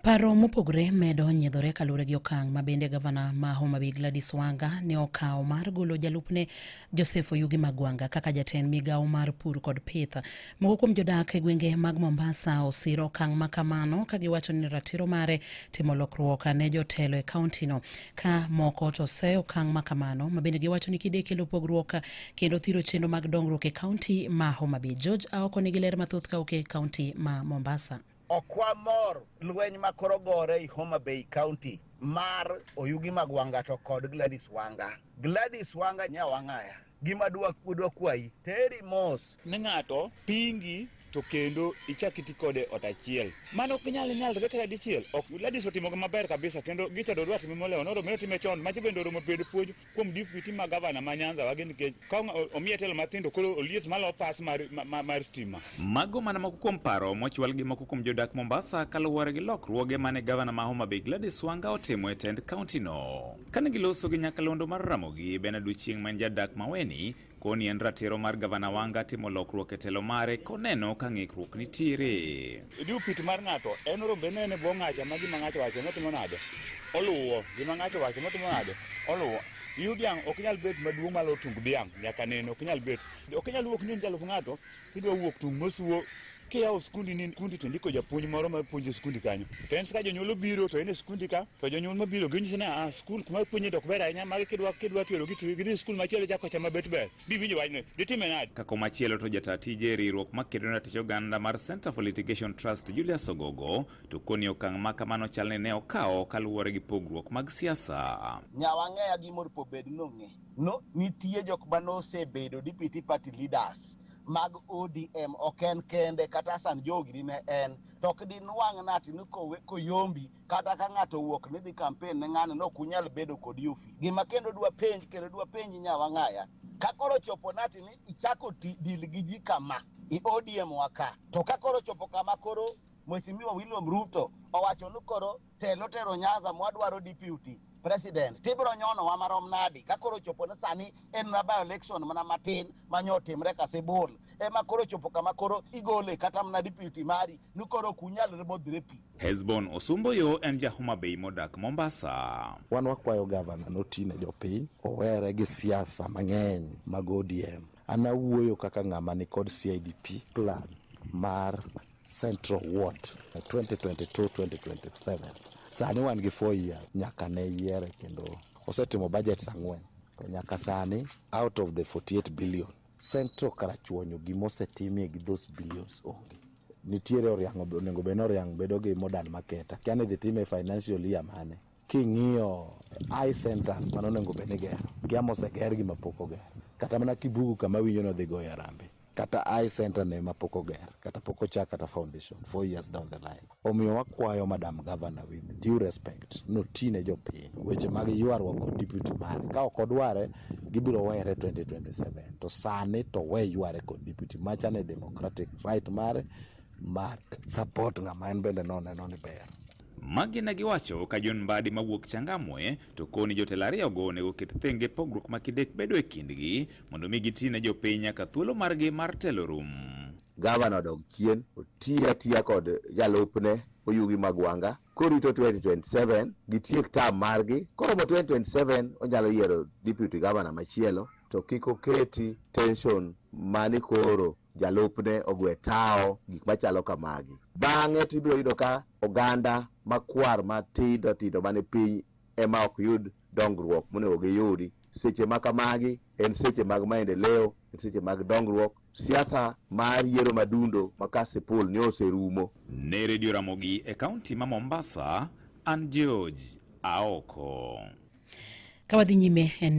Paro mopogore medo nyiedhore kaluwore gi okang' ma bende gavana ma Homa Bay Gladys Wanga ne okawo mar golo jalupne Joseph Oyugi Magwanga kaka jatend migawo mar pur kod pith. Moko kuom jodak e gwenge mag Mombasa osiro okang' ma kamano ka giwacho ni ratiro mare timo lokruok ne jotelo e kauntino ka moko to se okang' ma kamano ma bende giwacho ni kide kelo pogruok kendo thiro chenro mag dongruok e kaunti ma Homa Bay. George Aoko nigi ler mathoth ka wuok e kaunti ma Mombasa. Ok wamor lweny ma koro gore i Homa Bay County mar Oyugi mag Wanga to kod Gladys Wanga. Gladys Wanga nya wang'aya. Gima dwa dwa kwayi teri mos. Ne ng'ato pingi to kendo ichak iti kode ot achiel. Mano ok nyal nyalre kata dichiel. Ok Gladys otimo maber kabisa kendo gicha dodwa time molewo noro mino time chon maji bende oromo bedo puonj kuom diputi ma gavana ma Nyanza wagi nikech ka omiye telo matindo koro olies malo pas mar, mar, mar stima. Mago mana moko kuom paro mochwal gi moko kuom jodak Mombasa kaluwore gi lokruoge mane gavana ma Homa Bay Gladys Wanga otimo e tend kaunti no. Kane giloso gi nyakalondo mar Ramogi Benard Ochieng' ma en jadak Maweni Koni en ratiro mar gavana Wanga timo lokruok e telo mare koneno ka ng'ikruok nitiere. Idiu pit mar ng'ato en rombe nene bwo ng'acha ma gima ng'ato wacho notimo nade oluwo gima ng'ato wacho notimo nade oluwo yu dhiang' ok nyal bet maduong' malo tung dhiang' nyaka nene ok nyal bet ok nyal wuok ni nyalo ng'ato Kidwa wuok tung' mosuo kiyawo skundi ni skundi to ndiko japuonj moro ma puonjo skundi kanyo to en ka jonyuol obiro to en e skundi ka to jonyuol mabiro ginyisi ni ah skul kuma puonje dok ber ahinya magi kidwa kidwa tero gidhi skul machielo chako chama bet ber biwinjo wachno ditime nade kako machielo to jata tije riwruok makedo na tich oganda mar Center for Litigation Trust Julius Ogogo to koni okang' ma kamano chal ni ne okawo kaluwore gi pogruok mag siasa. Nyawang'eya gi mor pobed nong'e. no nitie jok ma nosebedo deputy party leaders mag ODM ok en kende kata Hassan Jogi dine en to ok dinwang' nati ni kowe koyombi kata ka ng'ato owuok ni dhi campaign ne ng'ano no kunyal bedo kod yufi gima kendo dwa penj kendo dwa penj nyawa ng'aya ka koro chopo nati ni ichako ti dil gi ji kama i ODM waka to ka koro chopo kama koro Mheshimiwa William Ruto owacho ni koro telo tero nyaza mwadwaro deputy president tibiro nyono wa marom nadi ka koro chopo ni sani en na by election mana matin manyo otimre kasibul ema koro chopo kama koro igole kata mana deputy mari ni koro kunyalre modhire pi Hezbon Osumboyo en ja Homa Bay modak Mombasa. wan wakwayo gavana noti ne jopiny owere gi siasa mang'eny mag odm an awuoyo kaka ng'ama nikod cidp plan mar Central Ward 2022-2027. Sani wan gi 4 years nyaka ne yiere kendo osetimo budgets ang'wen to nyaka sani out of the 48 billion Central Karachuonyo gima osetimie gi those billions onge. Nitiere Oriang' onego bed ni Oriang' bedo gi modern market. Akia ni idhi time e financial year mane. King'iyo eye centers mane onego bed ni igero, kia moseger gi mapok oger. Kata mana Kibugu kama awinjo ni odhi goyo harambee, kata eye center ne mapok oger, kata pok ochak kata foundation, four years down the line. Omiyo wakwayo Madam Governor with due respect, noti ne jopiny weche mag ywaruok kod deputy mare. Ka ok odware, gibiro were 2027. To sani to we yware kod deputy. Macha ne democratic right mare mar support ng'ama en bende noneno ni ber. Magi ne giwacho ka John Mbadi mawuok Changamwe to koni jotelo ariyogo onego oket thenge pogruok ma kidek bedo e kindgi mondo omi giti ne jopiny nyaka thuolo margi mar telo rum. Gavana odog chien oti atiya kod jalupne Oyugi Magwanga korito 2027 gitiek tam margi koromo 2027 onyalo yiero deputy gavana machielo to kik oketi tension mani koro jalupne ogwe tawo, gik machalo kamagi. Bang'e to ibiro yudo ka oganda makwar matindo tindo mane piny ema ok yud dongruok monego giyudi. Seche ma kamagi en seche mag maendeleo, en seche mag dongruok. Siasa mar yiero madundo ma Kasipul ne oserumo. Ne redio Ramogi e kaunti ma Mombasa, an George Aoko. Ka wadhi nyime en